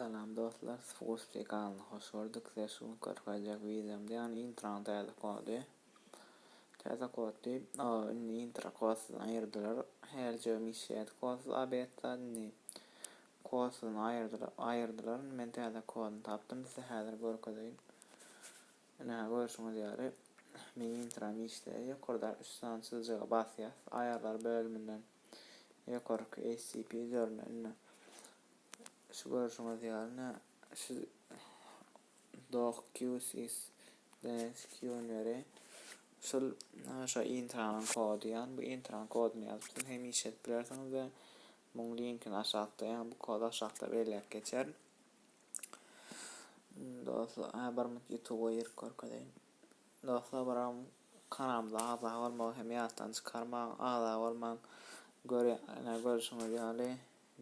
Salam dostlar siz hoş şey galny hoş gördük size şu görkezjek wideomda ýagny introny täze kody täze kod diýip o indi intro kodsyz aýyrdylar her jigim işleýärdi kodsyz obetda indi Kod siziň aýyrdylar indi men täze kodyny tapdym size häzir görkezeýin. Ine görşüňiz ýaly meň intram işleýär ýokardaky üç sany çyzyjyga basýas aýarlar bölüminden ýokarky HCP üzerine indi şu görşüňiz ýaly ine şu dock QSys DNS QNeri şul şo intramyň kody ýagny bu intram kodyny ýazyp siz hem işledip bilersiňiz we Muň linkini aşakda ýa bu kody aşakda belläp geçer. Dostlar, a bir minut YouTube girip görkezeýin. Dostlar, biram kanalymyza agza bolmagy hem ýatdan çykarmaň, agza bolmaň. Görýän, görşüňiz ýaly,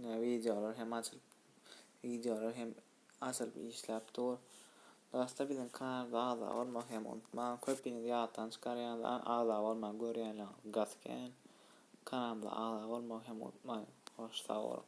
ne wideolar hem açylyp, wideolar hem Açylyp işläp dur. Dagystda biziň kanalda agza bolmagy hem unutmaň. Köpiňiz ýatdan çykarýaňyz agza bolman görýänleriňiz gas kän. Kanalymyza agza bolmagy hem unutmaň. Hoş sag boluň.